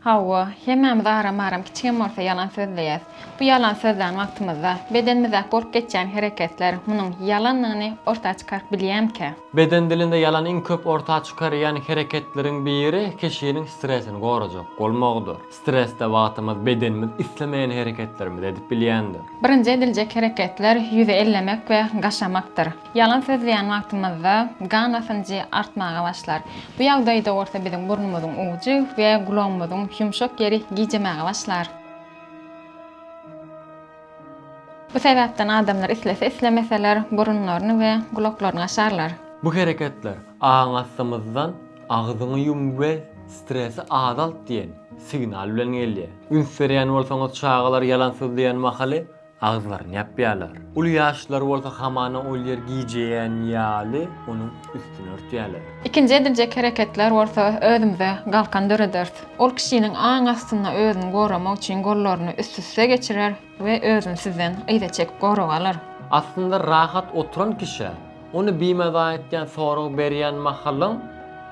Hawa, hemmämiz aram-aram kiçigem bolsa ýalan sözleýäs. Bu ýalan sözlän wagtymyzda, bedenimizdäki bolup geçýän hereketler munuň ýalandygyny orta çykaryp bilýärmikä? Beden dilinde ýalan iň köp orta çykarýan hereketleriň biri kişiniň stresini gorajak bolmagydyr. Stresde wagtymyz bedenimiz islemeýän hereketlerimizi edip bilýändir. Birinji ediljek hereketler ýüzi ellemek we gaşamakdyr. Ýalan sözleýän wagtymyzda gan basynjy artmaga başlar. Bu ýagdaýda bolsa biziň burnumyzyň ujy we gulagymyzyň ýumşak ýeri gijemäge başlar. Bu sebäpden adamlar islese-islemeseler burunlaryny we gulaklaryny açarlar. Bu hereketler aň astymyzdan agzyňy ýum we stresi azalt diýen signal bilen gelýär. Üns berýän bolsaňyz çagalar ýalan sözleýän mahaly agzlaryny ýapýarlar. Uly ýaşlylary bolsa hamana ol ýer gijeýän ýaly onuň üstüni örtýärler. Ikinji ediljek hereketler bolsa özümize galkan dörederis. Ol kişiniň aň astynda özüni goramak üçin gollaryny üst-üste geçirer we özüni sizden yza çekip goraga alar. Aslynda rahat oturan kişä ony bimaza etýän sorag berýän mahalyň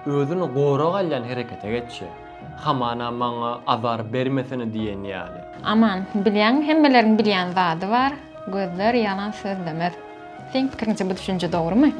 özüni goraga alýan herekete geçýär. Hamana maňa azar bermesene diýen ýaly. Aman, bilýäňmi, hemmeleriň bilýän zady bar, gözler ýalan sözlemez. Seň pikiriňçe bu düşünje dogrumy?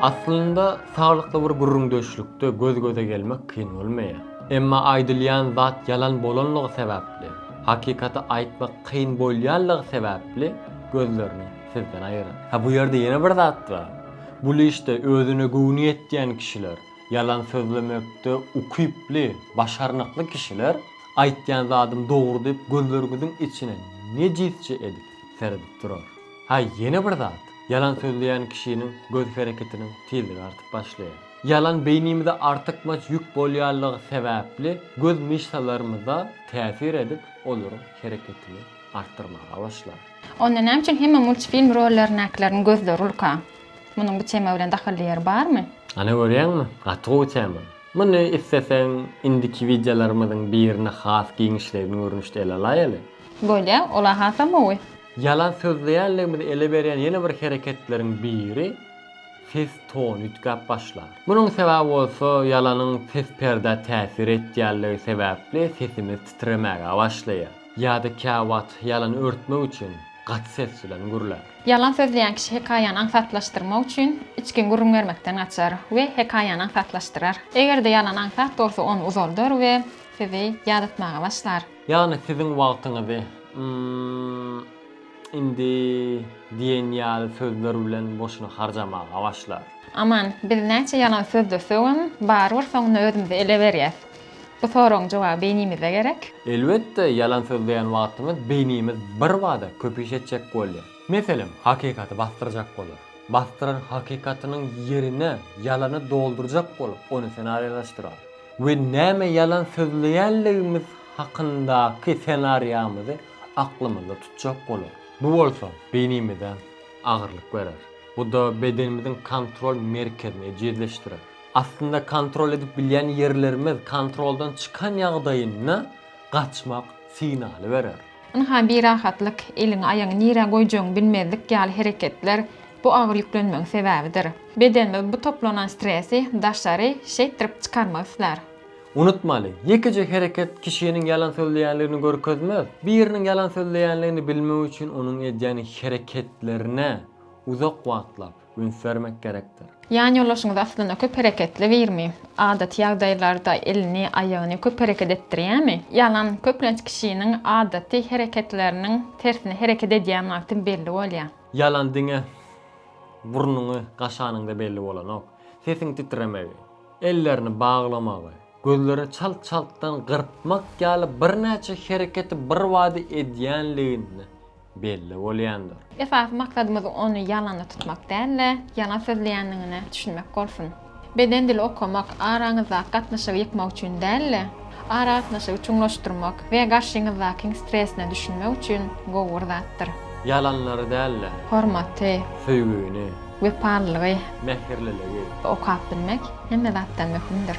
Aslynda saglykly bir gürrüňdeşlikde göz-göze gelmek kyn bolmaýar. Emma aýdylýan zat ýalan bolanlygy sebäpli, hakykaty aýtmak kyn bolýanlygy sebäpli gözlerini sizden aýyryň. Ha bu ýerde ýene bir zat bar. Bu lişde özüne göwni ýetýän kişiler, ýalan sözlemekde ukyply, başarnykly kişiler Aýtýan zadym dogry diýip gözleriňiziň içine nejisçe edip seredip durar. Ha ýene bir zat, ýalan sözleýän kişiniň göz hereketiniň tizligi artyp başlaýar. Ýalan beýnimize artykmaç ýük bolýanlygy sebäpli göz myşsalarymyza täsir edip olaryň hereketini artdyrmaga başlar. Onda näme üçin hemme multfilm rollerindäkileriň gözleri ulka? Munuň bu tema bilen dahylly ýeri barmy? Ana görýäňmi, gaty gowy tema. Muny isleseň indiki wideolarymyzyň birine has giňişleýin görnüşde ele alaýaly. Bolýa, ol-a hasam gowy. Ýalan sözleýänligimizi ele berýän ýene bir hereketleriň biri ses tony üýtgäp başlar. Munuň sebäbi bolsa ýalanyň ses perdä täsir etýänligi sebäpli sesimiz titremäge başlaýar. Ýa-da käwagt ýalany örtmek üçin gaty ses bilen gürlär. Ýalan sözleýän kişi hekaýany aňsatlaşdyrmak üçin içgin gürrüň bermekden gaçar we hekaýany aňsatlaşdyrar. Eger-de ýalan aňsat bolsa ony uzaldar we sizi ýadatmaga başlar. Ýagny siziň wagtyňyzy Ym-m-m, indi diýen ýaly sözler bilen boşuna harjamaga başlar. Aman, biz näçe ýalan sözlesegem, barybir soňunda özümizi ele berýäs. Bu soragyň jogaby beýnimize gerek. Elbetde, ýalan sözleýän wagtymyz beýnimiz birbada köpüş etjek bolýar. Meselem, hakykaty basdyrjak bolar. Basdyran hakykatynyň ýerine ýalany doldurjak bolup, ony senariýalaşdyrar we näme ýalan sözleýänligimiz hakyndaky senariýamyzy aklymyzda tutjak bolar. Bu bolsa beýnimize agyrlyk berer. Bu-da bedenimiziň kontrol merkezini ejizleşdirer. Aslynda kontrol edip bilýän ýerlerimiz kontroldan çykan ýagdaýynda gaçmak signaly berer. Ynha birahatlyk, eliňi aýagyňy nirä goýjagyňy bilmezlik ýaly hereketler bu agyr ýüklenmegiň sebäbidir. Bedenimiz bu toplanan stresi daşary şeýtdirip çykarmak islär. Unutmaly, ýekeje hereket kişiniň ýalan sözleýänligini görkezmez. Biriniň ýalan sözleýänligini bilmek üçin onuň edýän hereketlerine uzak wagtlap, üns bermek gerekdir. Ýanýoldaşyňyz aslynda köp hereketli birmi? Adaty ýagdaýlarda elini, aýagyny köp hereket etdirýärmi? Ýalam, köplenç kişiniň adaty hereketleriniň tersine hereket edýän wagty belli bolýar. Ýalam diňe burnuňy gaşanyňda belli bolanok. Sesiň titremegi, ellerini baglamagy, gözlerini çalt-çaltdan gyrpmak ýaly birnäçe hereketi birbada edýänligini, belli bolýandyr. Esasy maksadymyz ony ýalana tutmak däl-de, ýalan sözleýändigine düşünmek bolsun. Beden dili okamak araňyzdaky gatnaşygy ýykmak üçin däl-de, aragatnaşygy çuňlaşdyrmak we garşyňyzdakyň stresine düşünmek üçin gowy bir zatdyr. Ýalanlary däl-de. Hormaty. Söýgini. Wepalylygy. Mähirliligi. Okap bilmek hemme zatdan möhümdir.